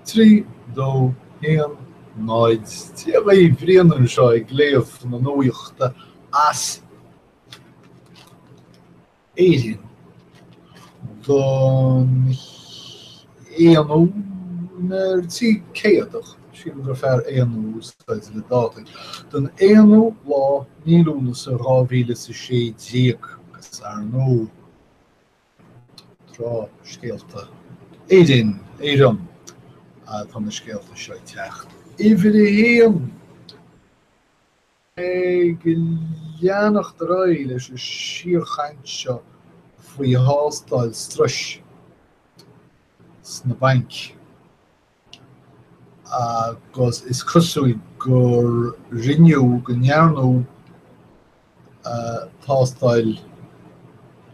3, 2, 1, 0, Dia dhaoibh, Brian anseo ag léamh na nuachta as Éirinn don aonú nuair trí céadach, sílim gur fearr aonú a úsáid le dátaí, don aonú lá mí Lúnasa dhá mhíle is a sé déag agus, ar ndóigh, tráth scéalta Éirinn, Éireann atá na scéalta seo ag teacht. Uimhir a haon, ag leanacht ar aghaidh leis an síorchaint seo faoi thástáil struis sna bainc. agus is cosúil gur rinneadh, go ndearnadh tástáil,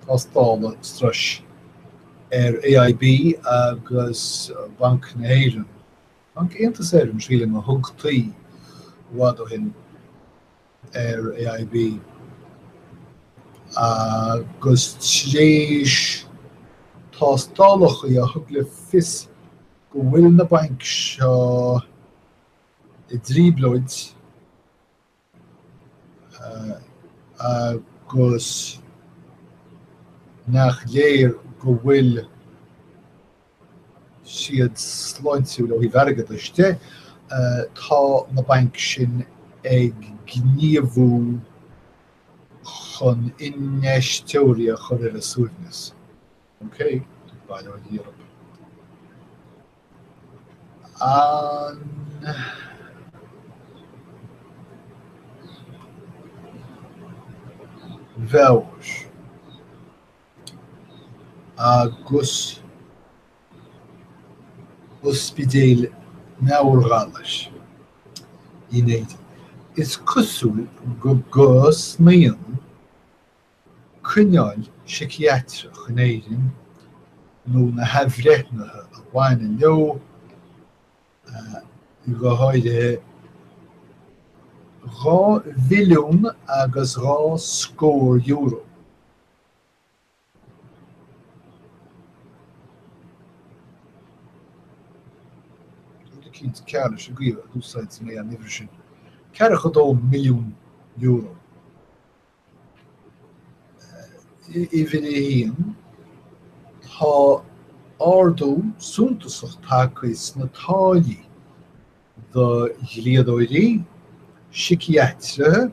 tástálacha struis ar AIB agus Banc na hÉireann, Banc Aontas Éireann sílim a thugtaí i bhfad ó shin. ar AIB agus tar éis tástálacha a thug le fios go bhfuil na bainc seo i dtrioblóid agus nach léir go bhfuil siad sláintiúil ó thaobh airgeadais de, tá na bainc sin ag gníomhú chun infheisteoirí a chur ar a suaimhneas. OK? Bail ó Dhia oraibh. An mheabhair agus ospidéil meabhairghalar in Éirinn. Is cosúil go gcosnaíonn coinneáil síciatrach in Éirinn, nó na hathbhreithnithe a bhaineann leo go háirithe, dhá mhilliún agus dhá scór euro. eicínt cearr leis an gcaoi a d'úsáid mé an uimhir sin, €42 milliún, uimhir a haon, tá ardú suntasach tagtha sna táillí do dhlíodóirí, síciatraithe,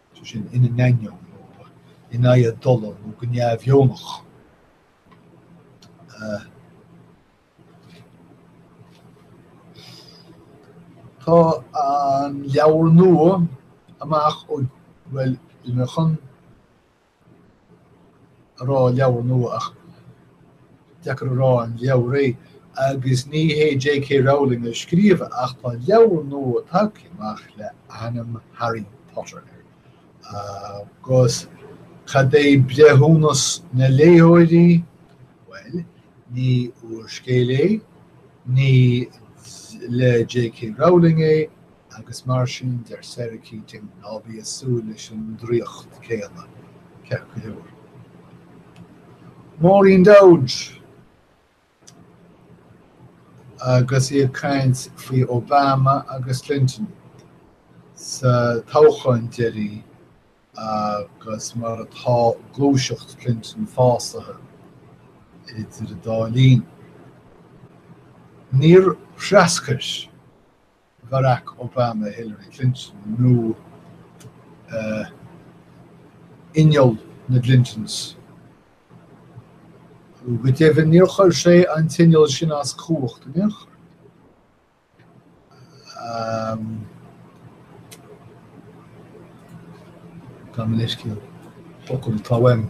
sé sin ina n-ainneoin nó in aghaidh a dtola nó go neamhdheonach. Uh, Tá an leabhar nua amach bhuel ag chun a rá leabhar nua ach deacair a rá an leabhar é agus ní hé JK Rowling a scríobh é ach tá leabhar nua tagtha amach le hainm Harry Potter air agus cad é breithiúnas na léitheoirí? Bhuel, ní úrscéal é, ní le JK Rowling é, agus mar sin, deir Sarah Keating, ná bí ag súil leis an draíocht céanna, ceart go leor. Maureen Dowd agus í ag caint faoi Obama agus Clinton sa toghcháin deiridh agus mar atá gluaiseacht Clinton fásaithe idir an dá linn. Níor threascair Barack Obama Hillary Clinton nó inneall na gClintons. Go deimhin níor chuir sé an t-inneall sin as cumhacht in aon chor. Tá mo leithscéal focal atá uaim.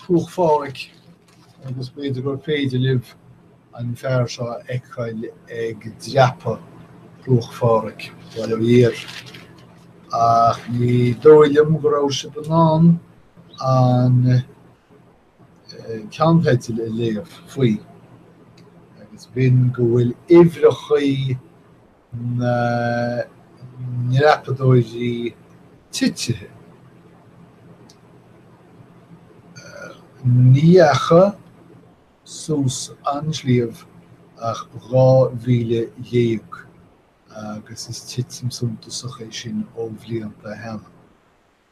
Cruach Phádraig, agus b'fhéidir gur féidir libh an fear seo a fheiceáil ag dreapadh Chruach Phádraig, bhuel thiar, ach ní dóigh liom go raibh sibh in ann an ceannteideal a léamh faoi, agus b'in go bhfuil uimhreachaí na ndreapadóirí titithe. Ní dheachaigh suas an sliabh ach 12,000 agus is titim suntasach é sin ó bhlianta roimhe.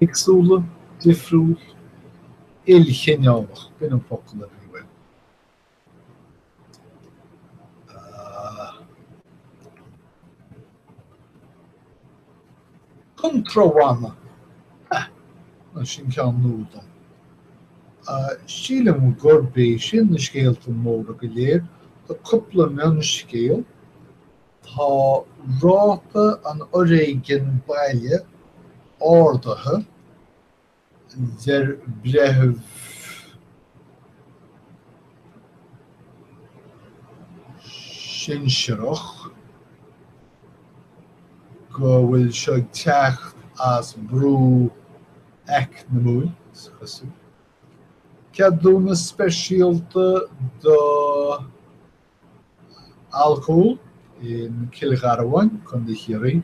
Éagsúla, difriúil, ilchineálach, b'in an focal a bhí uaim. Contrártha, heh, nó sin ceann nua dom. Sílim gurb iad sin na scéalta móra go léir, tá cúpla mionscéal, Tá ráta an fhoréigin baile ardaithe, a deir Breitheamh sinsearach, go bhfuil seo ag teacht as brú eacnamúil. Ceadúnas speisialta do alcól i gCill Gharbháin, Contae Chiarraí.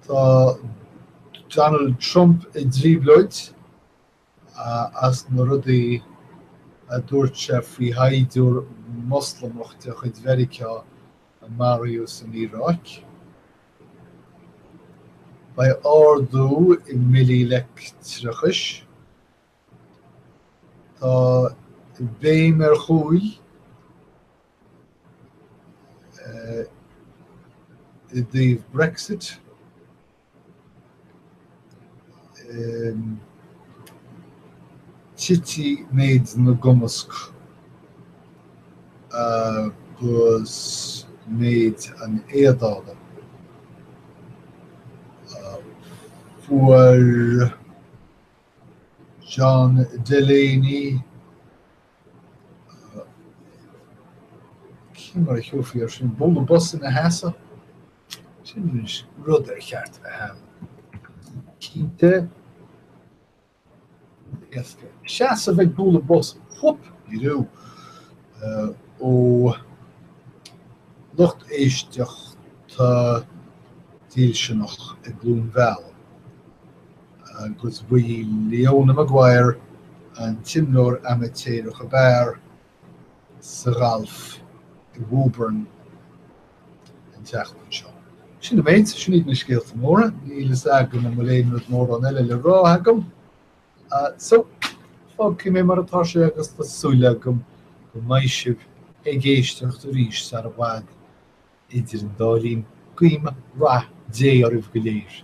Tá Donald Trump i dtrioblóid as na rudaí a dúirt sé faoi shaighdiúir Moslamach de chuid Mheiriceá a maraíodh san Iaráic. Beidh ardú i mbillí leictreachais. Tá béim ar chúl i dtaobh Brexit ag titim méid na gcumasc agus méid na n-éadálacha a fuair. John Delaney, cén mar a thiúrfaí ar sin? Bualadh bos ina sheasamh? Sin rud ar cheart a bheith ann. Cinnte, éasca. Seasamh ag bualadh bos, whoop, ní raibh. Uh, ó lucht éisteachta dílseanach i gCluain Mheala. agus ba í Leona Maguire an t-imreoir amaitéarach ab fhearr sa ghalf i Woburn an tseachtain seo. Sin an méid, sin iad na scéalta móra, níl fhios agam an bhfuil aon rud mórán eile le rá agam. So fágfaidh mé mar atá sé agus tá súil agam go mbeidh sibh ag éisteacht arís sar i bhfad. Idir an dá linn, guím rath Dé oraibh go léir.